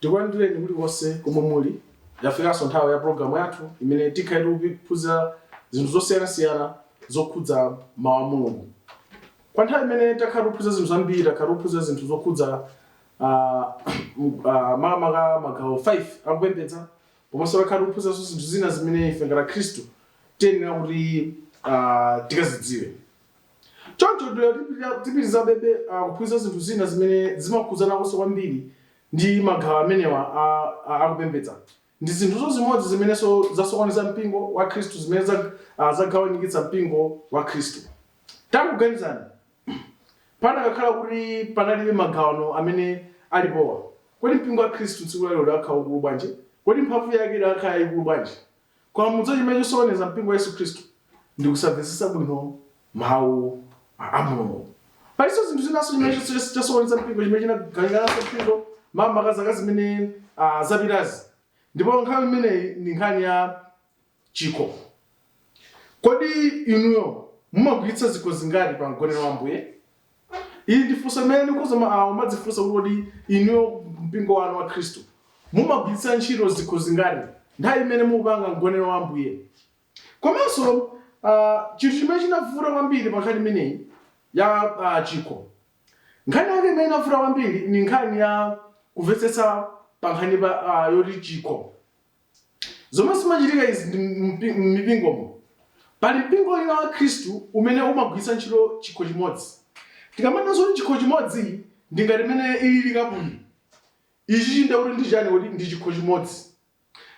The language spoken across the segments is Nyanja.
Tikulandireni mulikonse komwe muli. Yafikanso nthawi ya programu yathu imene tikhale tikuphunzira zinthu zosiyanasiyana zokhudza mawu a Mulungu. Kwa nthawi imene takhala tikuphunzira zinthu zambiri, takhala tikuphunzira zinthu zokhudza ah, m- ah, makamaka magawo 5 akupembedza komanso takhala tikuphunziranso zinthu zina zimene ife ngati Akhristu tiyenera kuti ah, tikazidziwe. Choncho tiyenera tipitirizabebe kuphunzira zinthu zina zimene zimakhudzanakonso kwambiri ndi magawo amenewa a a kupembedza. Ndi zinthunso zimodzi zimenenso zasokoneza mpingo wa Khristu zimene za a zagawanikitsa mpingo wa Khristu. Takuganizani, panakakhala kuti panalibe magawano amene alipowa, kodi mpingo wa Khristu tsiku la lero udakakhala waukulu bwanji? Kodi mphamvu yake idakakhala yaikulu bwanji? Koma mudziwa chimene chosokoneza mpingo wa Yesu Khristu ndi kusamvetsetsa bwino mawu a a Mulungu. Palinso zinthu zinanso chimene chos- chos- chasokoneza mpingo chimene chinagawiranso mpingo makamaka zaka zimene ah, zapitazi. Ndipo nkhani imeneyi ndi nkhani ya chikho. Kodi inuyo mumagwiritsa zikho zingati pa mgonero wa Ambuye? Ili ndi funso limene mukhoza ma- ah, kumadzifunsa kuti kodi inuyo mpingo wanu wa khristu mumagwiritsa ntchito zikho zingati nthawi imene mukupanga mgonero wa ambuye komanso ah, chinthu chimene chinavuta kwambiri pa nkhani imeneyi ya ah, chikho nkhani yake imene inavuta kwambiri ni nkhani ya kumvetsetsa pa nkhani pa ah, yoti chikho Zomwe zimachitika izi ndi mpi- m'mipingomo. Pali mpingo wina wa Khristu umene umagwiritsa ntchito chikho chimodzi. Tikamanena zoti chikho chimodzi ndi ngati mmene ilili kapuyi. Ichi nde kuti ndi chiyani kuti ndi chikho chimodzi.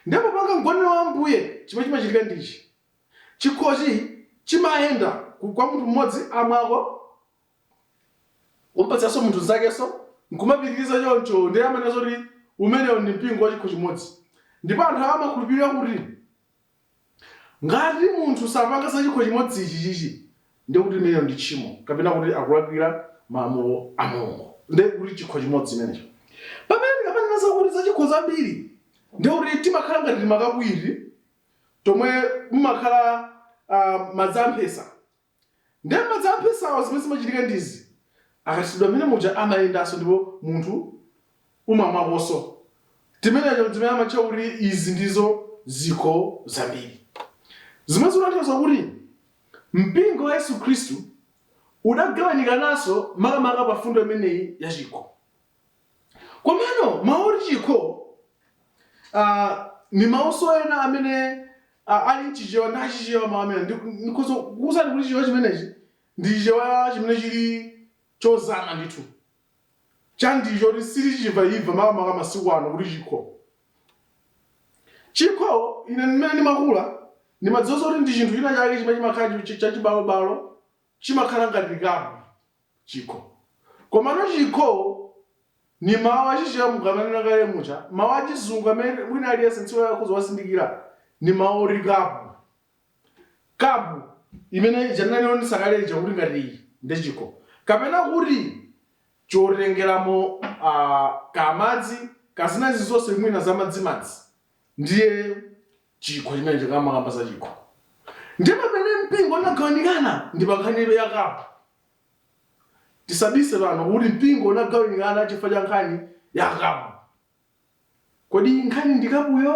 Ndiye popanga mgonero wa Ambuye chimene chimachitika ndi ichi. Chikhochi chimayenda ku- kwa munthu mmodzi amwako kumpatsanso munthu nzakenso nkumapitiriza choncho ndiye amanena zoti umenewo ndi mpingo wa chikho chimodzi ndipo anthu awo amakhulupirira kuti ngati munthu sapanga za chikho chimodzi ichi chichi ndiye kuti imeneyo ndi tchimo kapena kuti akulakwira malamulo a mulungu ndiye kuti chikho chimodzi chimenecho pamene tikamanena zakuti za zikho zambiri ndiye kuti timakhala ngati timakapu tomwe mumakhala uh, madzi amphesa Ndiye madzi a mphesawa zimene zimachitika ndi izi, akathiridwa mmene muja amayendanso ndipo munthu umamwakonso timeneto n'timene amatcha kuti izi ndizo zikho zambiri, zomwe zikutanthauza kuti mpingo wa Yesu Khristu udagawanikananso makamaka pa mfundo imeneyi ya chikho. Komano mawu oti chikho ah, ni mawuso ena amene ah, ali mchichewa ndi achichewa mawu amene Ndi- ndikhoza kukuwuzani kuti chichewa chimenechi ndi chichewa chimene chili chozama ndithu chakuti sitichimva imva makamaka masiku ano kuti chikho chikho ine mmene ndimakula ndimadziwa kuti ndi chinthu china chake chimene chimakhala chi- chachibalobalo chimakhala ngati kapu chikho. Komano chikho ni mawu achichewa monga nanena kale muja. Mawu achizungu amene wina aliyense tsiku la lero akhoza kuwazindikira ni mawu oti kapu. Kapu imene ija nanena ndisakale ija kuti ngati iyi ndiye chikho. Kapena kuti chotengeramo kamadzi, kaya zina zilizonse mwina zamadzimadzi ndiye chikho chimene tikamakamba za chikho ndi pamene mpingo unagawanikana ndi pa nkhani ya kapu tisabise apano kuti mpingo unagawanikana chifukwa cha nkhani ya kapu kodi nkhani ndi kapuyo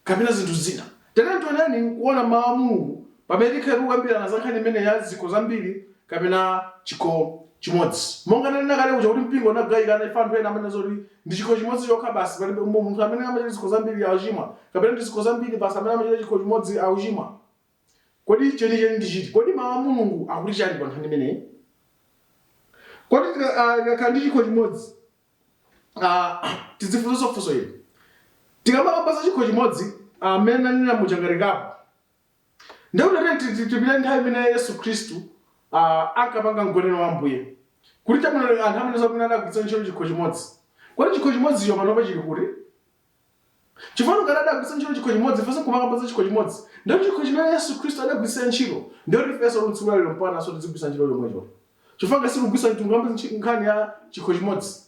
kapena zinthu zina tatiyeni tioneni kuona mawu a mulungu pamene tikhale kukambirana za nkhani imeneyi ya zikho zambiri kapena chikho chimodzi monga tanena kale kuja kuti mpingo unagawikana ife anthu ena amanena zoti Ndi chikho chimodzi chokha basi, palibe mu, munthu amene amachita zikho zambiri akuchimwa, kapena ndi zikho zambiri basi amene amachita chikho chimodzi akuchimwa. Kodi chenicheni ndi chiti? Kodi Mawu a Mulungu akuti chani pa nkhani imeneyi? Kodi tika- ah, tikakhala ndi chikho chimodzi ah, tidzifunsenso funso ili. Tikamakamba za chikho chimodzi amene nanena muja ngati kapu, Ndiye kuti tatiyeni ti- ti- tipite nthawi imene Yesu Khristu ah, ankapanga mgonero wa Ambuye. Kuti chabwino anthu amanena zakuti mmene adagwiritsa ntchito chikho chimodzi. Kodi chikho chimodzicho panopa chili kuti? Chifukwa ngati adagwiritsa ntchito chikho chimodzi, ifenso kumakamba za chikho chimodzi. Ndiye kuti chikho chimene Yesu Khristu adagwiritsa ntchito, ndiye kuti ifenso tsiku la lero mpakana so tizigwiritsa ntchito chomwecho. Chifukwa ngati sitikugwiritsa ntchito, tikambe ntchi- nkhani ya chikho chimodzi.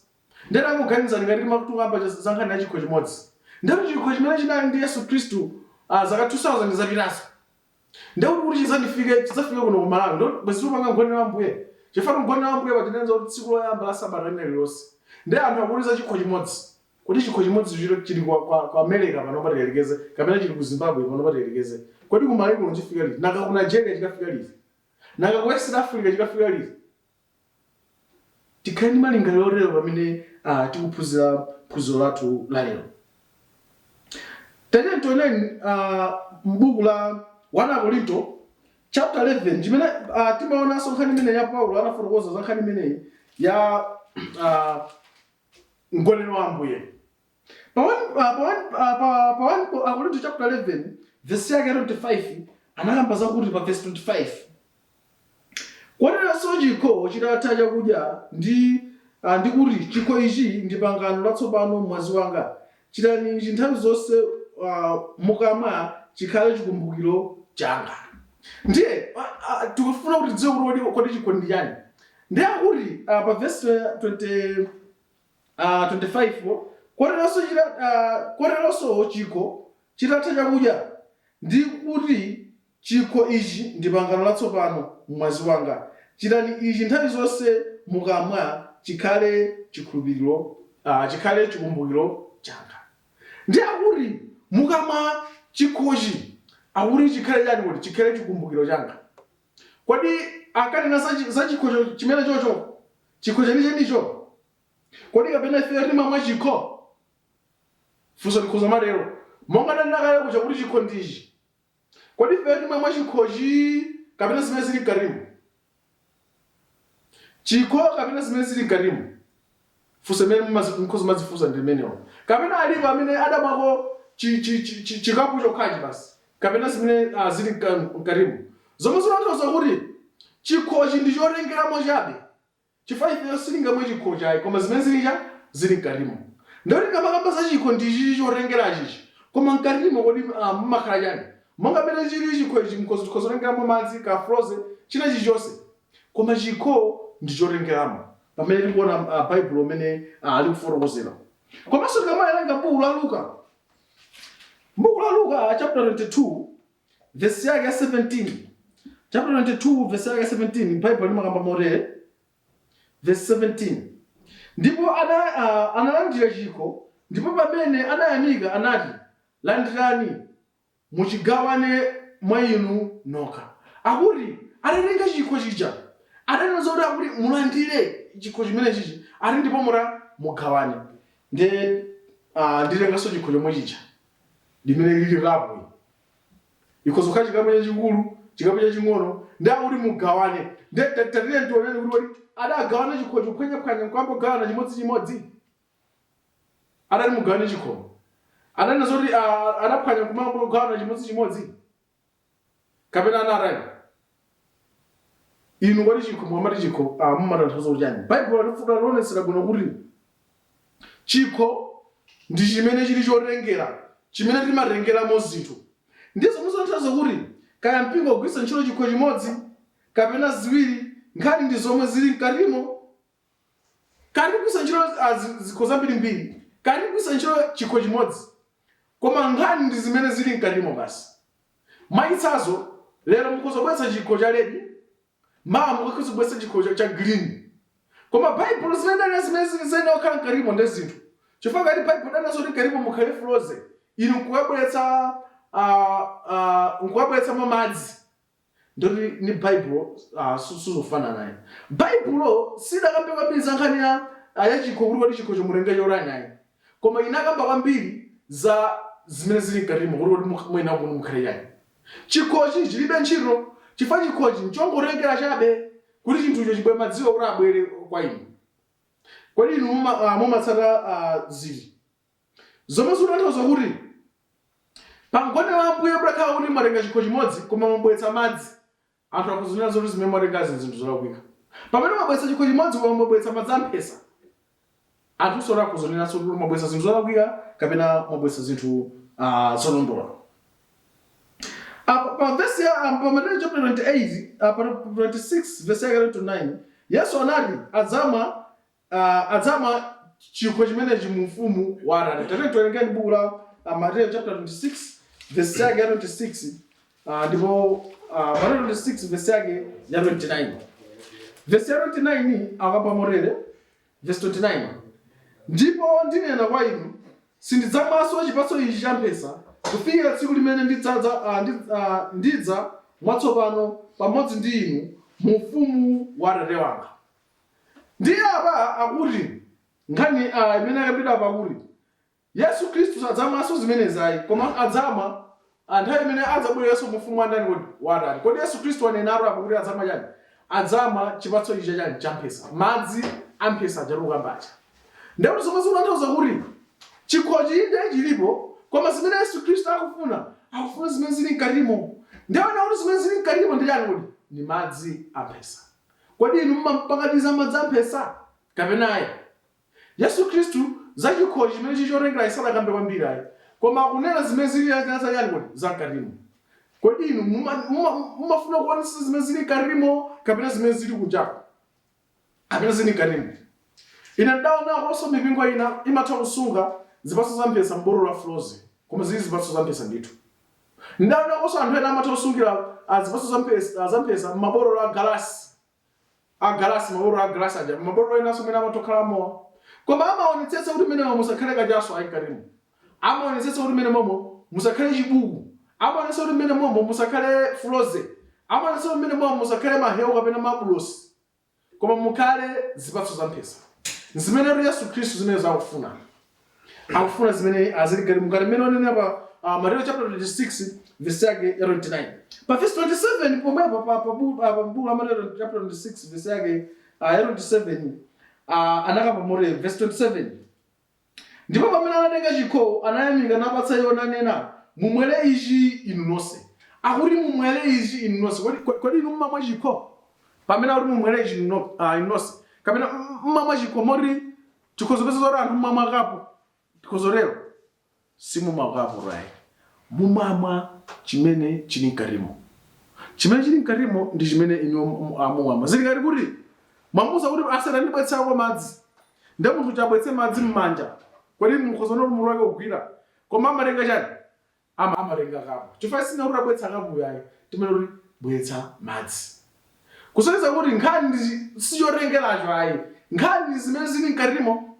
Ndiye tangoganizani ngati timat tikukamba za za nkhani ya chikho chimodzi. Ndiye kuti chikho chimene chinali ndi Yesu Khristu ah, zaka 2000 zapitazo. Ndiye kuti kuti chidzandifike chidzafike kuno ku Malawi. Ndiye kuti bwezi tikupanga mgonero wa Ambuye. Chifukwa mgonero wa Ambuye Baibulo imanena zakuti tsiku loyamba la sabata lina lililonse. Ndiye anthu akuti za chikho chimodzi. Kodi chikho chimodzi chili chili kwa kwa kwa America pano patiyerekeze kapena chili ku Zimbabwe pano patiyerekeze. Kodi ku Malawi kuno chidzafika liti? Nanga ku Nigeria chikafika liti? Nanga ku West Africa chikafika liti? Tikhale ndi malingaliro otero pamene ah, tikuphunzira phunziro lathu la lero. Tatiyeni tioneni ah, m'buku la 1 Akorinto chapter 11 chimene ah, timaonanso nkhani imeneyi ya Paulo anafotokoza za nkhani imeneyi ya ah, mgonero wa Ambuye. Pa 1 pa 1 pa pa 1 ko Akorinto chapter 11 verse yake ya 25 anakamba zakuti pa verse 25 koteronso chikho chitatha chakudya ndi ah, ndi kuti chikho ichi ndi pangano latsopano m'mwazi wanga chitani ichi nthawi zonse ah, mukamwa chikhale chikumbukiro changa ndiye ah, ah, tikufuna kuti tidziwe kuti kodi- kodi chikho ndi chani ndiye akuti ah, pa verse 20 25 koteronso chikho chitatha chakudya, ndi kuti, Chikho ichi ndi pangano latsopano m'mwazi wanga, chitani ichi nthawi zonse mukamwa, chikhale chikumbukiro changa. Ndiye akuti mukamwa chikhochi, akuti chikhale chani kodi? Chikhale chikumbukiro changa. Kodi ankanena za, za chikho chimenechocho, chikho chenichenicho? Kodi kapena ifeyo timamwa chikho? Funso likhoza kumatero, monga ndanena kale kuja kuti chikho ndi ichi. Kodi ifeyo timamwa chikhochi kapena zimene zili mkatimu? Chikho kapena zimene zili mkatimu? funso limene mumazi- mukhoza kumadzifunsa ndi limenelo kapena alipo amene adamwako chi- chi- chi- chi- chikapu chokhachi basi kapena zimene ah, zili mka- mkatimo zomwe zimatanthauza kuti chikhochi ndi chotengeramo chabe chifukwa ifeyo sitingamwe chikho chayi koma zimene zili cha zili mkatimo ndi kuti tikamakamba za chikho ndi chichi chotengera chichi koma mkatimo kodi ah, mumakhala chani monga mmene chili chikho ichi mkhozo tikhoza kutengeramo madzi ka frozen china chilichonse Koma chikho ndi chotengeramo pamene tikuona a Baibulo mmene ah, likufotokozera. Komanso tikamawerenga buku la Luka, buku la Luka ah, chapter 22 verse yake ya 17 chapter 22 verse yake ya 17 Bible limakamba motere verse 17 ndipo ana, uh, analandira chikho ndipo pamene anayamika anati landirani muchigawane mwa inu nokha. Akuti atatenga chikho chija, atanena zoti akuti mulandire chikho chimenechichi, ati ndipo muta mugawane. Nde ah, nditenganso chikho chomwe chija limene lili kapu iyi. Ikhoza kukhala chikapu chachikulu, chikapu chaching'ono, ndi akuti mugawane. Nde ta- tatiyeni tioneni kuti kodi adagawana chikhocho kuphwanyaphwanya nkuyamba kugawana chimodzichimodzi? atati mugawane chikhomo ananena zoti ah, anaphwanya nkuyamba kugawana chimodzi chimodzi kapena anatani inu kodi chikho mukamati chikho ah, mumatanthauza kuchani baibulo likufuna lionetsere bwino kuti chikho ndi chimene chili chotengera chimene timatengeramo zinthu ndi zomwe zikutanthauza kuti kaya mpingo ugwiritsa ntchito chikho chimodzi kapena ziwiri nkhani ndi zomwe zili mkatimo Kaya ndikugwiritsa ntchito a, zi- zikho zambirimbiri, kaya ndikugwiritsa ntchito chikho chimodzi, koma nkhani ndi zimene zili mkatimo basi. Mwachitsanzo, lero mukhoza kubweretsa chikho cha red, mawa mukhoza kubweretsa chikho cha, cha green. Koma Baibulo silinena zimene ziyenera kukhala mkatimo ndi zinthu. Chifukwa ngati Baibulo linanena zoti mkatimo mukhale Frozy, inu nkukabweretsa ah, ah, nkukabweretsamo madzi, Ndiye kuti ndi Baibulo ah, su- sizofanana ayi. Baibulo sidakambe kwambiri za nkhani ya ah, ya chikho kuti kodi chikhocho mutenge chotani ayi. Koma inakamba kwambiri za zimene zili mkatimo kuti kodi mukh- muyenera kuti mukhale chani. Chikhochi chilibe ntchito chifukwa chikhochi nchongotengera chabe kuti chinthucho chibwere madziwo kuti abwere kwa inu. Kodi inu muma- ah, mumatsata ah, ziti? zomwe zikutanthauza kuti pa mgonero wa Ambuye mutakhala kuti mwatenga chikho chimodzi koma mwabweretsa madzi, anthu akhoza kunena zoti zimene mwatengazi ndi zinthu zolakwika. Pamene mwabweretsa chikho chimodzi koma mwabweretsa madzi amphesa, anthunso akhoza kunenanso kuti mwabweretsa zinthu zolakwika kapena mwabweretsa zinthu ah, zolondola. Apa pa vesi ya ah, pa Mateyu chapter 28 ah, pa 26 vesi yake 29 Yesu anati adzamwa uh, adzamwa chikho chimenechi mu ufumu wa Atate. Tate tiwerengeni buku la uh, Mateyu chapter 26 verse yake ya 26 uh, ndipo uh, Mateyu 26 verse yake ya 29. Verse ya 29 ikukamba motere verse 29. Ndipo ndinena kwa inu sindidzamwanso chipatso ichi cha mphesa kufikira tsiku limene ndidzadza uh, ndi, uh, ndidzamwa chatsopano pamodzi ndi inu mu ufumu wa Atate wanga. Ndiye apa akuti nkhani a imene yakambidwa apa kuti Yesu Khristu sadzamwanso zimenezi ayi, koma adzamwa a nthawi imene adzabwerenso mu ufumu wa ndani kodi? Wa Atate. Kodi Yesu Khristu wanenatu apa kuti adzamwa chani? Adzamwa chipatso ichi cha chani? Cha mphesa, madzi a mphesa aja tikukamba aja. Ndiye kuti zomwe zikutanthauza kuti chikhochi inde chilipo, koma zimene Yesu Khristu akufuna, akufuna zimene zili mkatimo. Ndiye kuti zimene zili mkatimo ndi chani kodi? Ndi madzi a mphesa. Kodi inu mumampatsa ndi za madzi a mphesa, kapena ayi? Yesu Khristu, za chikhochi chimene chiri chotengera ayi, sanakambe kwambiri ayi. Koma akunena zimene ziri za, za, za chiyani kodi? Za mkatimo. Kodi inu muma- muma- mumafuna kuonetsa zimene ziri mkatimo, kapena zimene ziri kunjako, kapena ziri mkatimo? Ine ndaonakonso mipingo ina imatha kusunga zipatso za mphesa m'botolo la frozy, koma ziri zipatso za mphesa ndithu. Ndaonakonso anthu ena amatha kusungira ah, zipatso za mphesa ah, za mphesa m'mabotolo a galasi a galasi mabotolo a galasi aja mabotolo enanso mwina amatha kukhala mowa koma amaonetsetsa kuti m'menemo musakhale kachaso ayi mkatimo amaonetsetsa kuti m'menemomo musakhale chibuku amaonetsetsa kuti m'menemomo musakhale Frozy amaonetsetsa kuti m'menemomo musakhale mahewu kapena mabulosi koma mukhale zipatso za mphesa zimenetu yesu khristu zimenezo akufuna akufuna zimene azili mkati mukhale mmene onenera pa uh, mateyo chapter 26 verse yake ya 29 pa verse 27 pomwepo pa pa bu- ah, pa mbuku la mateyo chapter 26 verse yake ah, ya 27 ah, anakamba motere verse 27 Ndipo pamene anatenga chikho, anayamika napatsa iwo, nanena, Mumwere ichi inu nonse. Akuti, Mumwere ichi inu nonse. Kodi, kodi, kodi inu mumamwa chikho? Pamene akuti, Mumwere ichi inu no, ah, inu nonse. Kapena, m- mumamwa chikho moti chikhoza pezeka zoti anthu mumamwa kapu. Tikhoza tero. Simumamwa kapu ayi. Mumamwa chimene chili mkatimo. Chimene chili mkatimo ndi chimene inuyo mumamwa. Zili ngati kuti mwamuuza kuti, Ase tandibweretsako madzi. Ndiye munthu uja abweretse madzi m'manja, kodi mukhoza kuona kuti mutu wake ugwira? Koma amatenga chiyani? Amatenga kapu. Chifukwa sitinena kuti tabweretsa kapuyo ayi. Timanena kuti, Bweretsa madzi. Kusonyeza kuti nkhani si chotengeracho ayi. Nkhani ndi zimene zili mkatimo.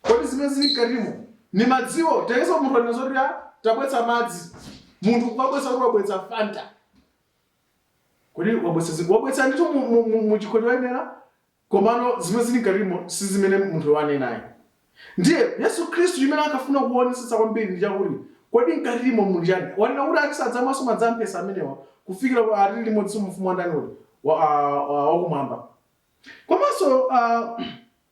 kodi zimene zili mkatimo ni madziwo Tiyese munthu anena zoti "Ah, tabwetsa madzi munthu kumabwetsa kuti wabwetsa fanta kodi wabwetsa zi- wabwetsa ndithu mu- mu- mu- mu chikho choyenera komano zimene zili mkatimo si zimene munthu wanena ayi ndiye yesu khristu chimene akafuna kuonetsetsa kwambiri ndi chakuti kodi mkatimo muli chani wanena kuti ati sadzamwanso madzi amphesa amenewa kufikira pa atili limodzi mu ufumu wandani uli wa- wa- wa- wakumwamba komanso ah,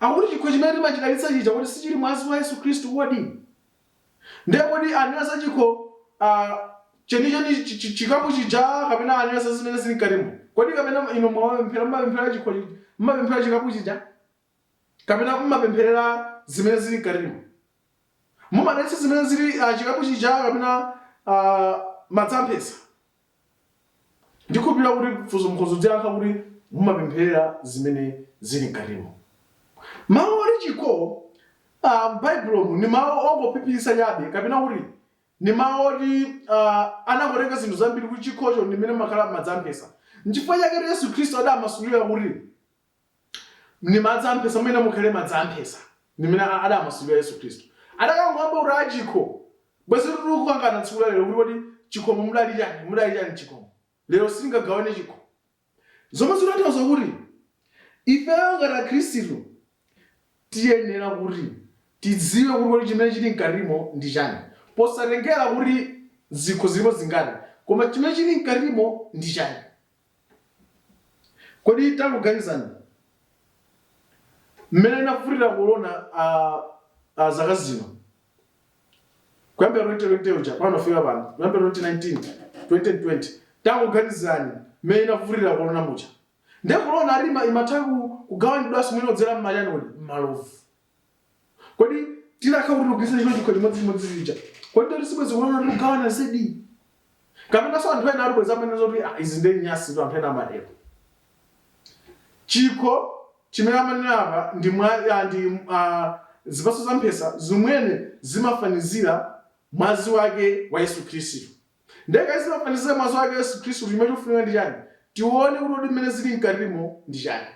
Akuti chikho chimene timachidalitsa chija kuti sichili mwazi wa Yesu Khristu kodi? Ndiye kodi anena za chikho ah, chenicheni chi- chi- chi- chikapu chija kapena anena za zimene zili mkatimo? Kodi kapena inu mumapemphera mmapemphera chikho chi- mmapemphera chikapu chija kapena mmapempherera zimene zili mkatimo? Mumadalitsa zimene zili ah, chikapu chija kapena ah, madzi amphesa? Ndikhulupirira kuti funso mukhozodziyankha kuti mumapempherera zimene zili mkatimo. Mawu oti chikho a m'Baibulomu ndi mawu ongophiphiritsa chabe kapena kuti ndi mawu oti a anangotenga zinthu zambiri kuti chikhocho ndi mmene mumakhala madzi amphesa. N'chifukwa chaketu Yesu Khristu adamasulira kuti. Ndi madzi amphesa, muyenera mukhale madzi amphesa. Ndi mmene adamasulira Yesu Khristu. Adakangokamba kuti a chikho. Bwenzitu tikukangana tsiku la lero kuti kodi chikhomo mudali chani? Mudali chani mchikhomo? Lero sitingagawane chikho. Zomwe zikutanthauza kuti ifeyo ngati Akhristu tiyenera kuti tidziwe kuti kodi chimene chili mkatimo ndi chani. Posatengera kuti zikho zilipo zingati, koma chimene chili mkatimo ndi chani. Kodi tangoganizani mmene inavutira korona a, a zaka zino kuyambira 2020 uja pano fika pano kuyambira 2019 2020 tangoganizani mmene inavutira korona muja ndiye korona alima imatha ku- kugawanidwanso mwina kudzera m'machani kodi m'malovu kodi tidakhala kuti tikugwiritsa ntchito chikho chimodzimodzi chija kodi ndoti sibwezi korona tikugawana zedi kapenanso anthu ena bwezi amanena zoti "Ah, izi ndi nyansitu anthu ena amatero chikho chimene amanena apa ndi mwa ah, ndi ah, zipatso za mphesa zimene zimafanizira mwazi wake wa yesu khristu nde ngati zimafanizira mwazi wake wa yesu khristu chimene chikufunika ndi chani tione kuti kodi mmene zili mkatimo ndi chani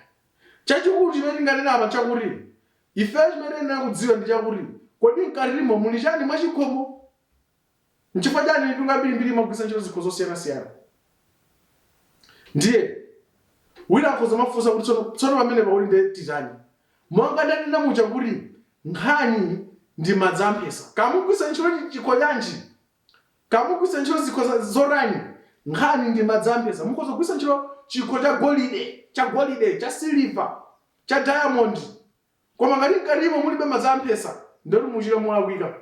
Chachikulu chimene tinganene apa nchakuti, ifeyo chimene tiyenera kudziwa ndi chakuti, kodi mkatimo muli chani mwa chikhomo? Nchifukwa chani anthu ambirimbiri amagwiritsa ntchito zikho zosiyanasiyana? Ndiye, wina akhoza kumafunsa kuti tsono, tsono pamenepa kuti nde titani? Monga ndanena muja kuti nkhani ndi madzi a mphesa. Kaya mukugwiritsa ntchito chikho chanji, Kaya mukugwiritsa ntchito zikho za, zotani? Nkhani ndi madzi ampesa. Mukhoza kugwiritsa ntchito chikho cha golide, cha siliva, cha dayamondi. Koma ngati mkatimo mulibe madzi ampesa, ndiye kuti mukuchita molakwika.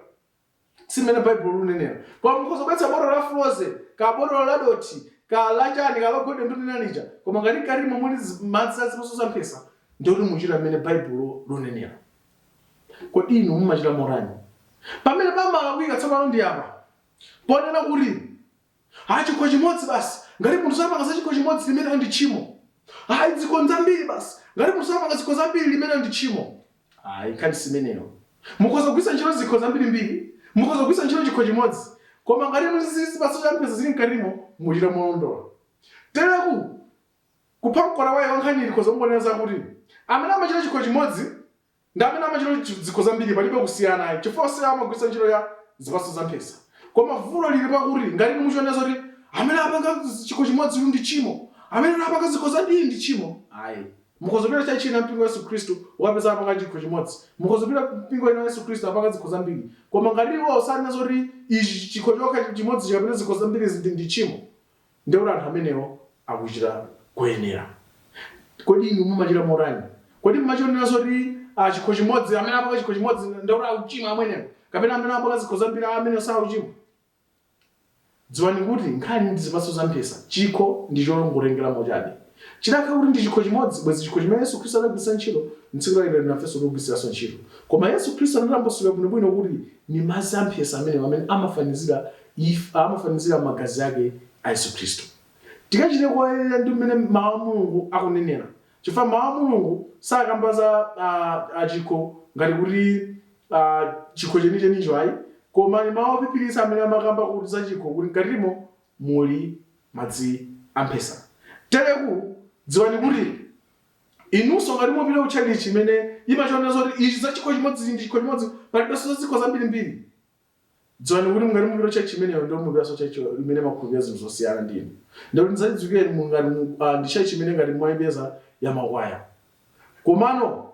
Si mmene Baibulo likunenera. Koma mukhoza kubweretsa botolo la Frozy, kaya botolo la dothi, kaya la chani, kaya la golide ndimanena lija. Koma ngati mkatimo muli zi- madzi a zipatso za mphesa, ndiye kuti mukuchita mmene Baibulo likunenera. Kodi inu mumachita motani? Pamene pamalakwika, tsopano ndi apa, ponena kuti, Ayi, chikho chimodzi basi. Ngati munthu sapanga za chikho chimodzi, limenelo ndi tchimo. Ayi, zikho nzambiri basi. Ngati munthu sapanga zikho zambiri, limenelo ndi tchimo. Ayi, nkhani simeneyo. Mukhoza kugwiritsa ntchito zikho zambirimbiri, mukhoza kugwiritsa ntchito chikho chimodzi, koma ngati inu zipatso za mpesa zili mkatimo, muchita molondola. Tereku, Kupha mkota wake wa nkhaniyi tikhoza kungonena zakuti amene amachita chikho chimodzi ndi amene amachita chi zikho zambiri palibe kusiyana ayi chifukwa onsewa amagwiritsa ntchito ya zipatso za mphesa. Koma vuto lili pakuti ngati inu muchiona zoti amene apanga chikho chimodzi uyu ndi tchimo, amene uyu apanga zikho zambiri ndi tchimo ayi. Mukhoza kupita tchalitchi ina ya mpingo wa Yesu Khristu mukapeza apanga chikho chimodzi, mukhoza kupita mpingo ina wa Yesu Khristu apanga zikho zambiri koma ngati iwowo sanena zoti ichi chikho chokha chimodzichi kapena zikho zambirizi ndi ndi tchimo Ndiye kuti anthu amenewo akuchita koyenera. Kodi inu mumachita motani? Kodi mumachionera zoti a chikho chimodzi, amene amapanga chikho chimodzi ndiye kuti akuchimwa amenewo, kapena amene amapanga zikho zambiri a amenewo sakuchimwa? Dziwani kuti nkhani ndi zipatso za mphesa, chikho ndi chongotengeramo chabe. Chidakhala kuti ndi chikho chimodzi, bwenzi chikho chimene Yesu Khristu adagwiritsa ntchito m'tsiku la lero nafenso tikugwiritsanso ntchito. Koma Yesu Khristu anatambasula bwinobwino kuti ndi madzi a mphesa amenewo amene amafanizira If amafanizira magazi ake a Yesu Khristu. Tikachite koyenera ndi mmene mawu a Mulungu akunenera. Chifukwa mawu a Mulungu sakamba za ah, ah, chikho ngati kuti ah, chikho chenichenicho ayi. Koma ali mawu ophiphiritsa amene amakamba kuti za chikho kuti mkatimo muli madzi amphesa. Tereku dziwani kuti inunso ngati mupita ku chalichi imene imachiona zoti ichi za chikho chimodzi ndi chikho chimodzi palibenso za zikho zambirimbiri dziwani kuti ngati mupita church imeneyo ndio mupitanso church imene makhulupirira zinthu zosiyana ndi inu ndio ndizadziwikiretu mungati mu- ah, ndi church imene ngati mwaipeza ya makwaya komano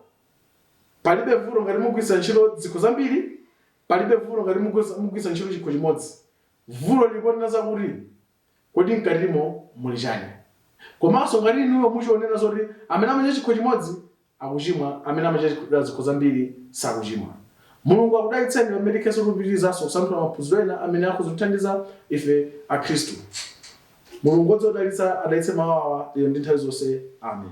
palibe vuto ngati mugwiritsa ntchito zikho zambiri palibe vuto ngati mugwiritsa mugwiritsa ntchito chikho chimodzi vuto liliponena zakuti Kodi mkatimo muli chani? Komanso ngati inuyo muchionera zoti amene amachita chikho chimodzi akuchimwa amene amachita zikho zambiri sakuchimwa. Mulungu akudalitseni pamene tikhenso tikupitirizanso kusanthula maphunziro ena amene akhoza kutithandiza ife akhristu. Mulungu odziwa kudalitsa adalitse mawu awa lero ndi nthawi zonse. Amen.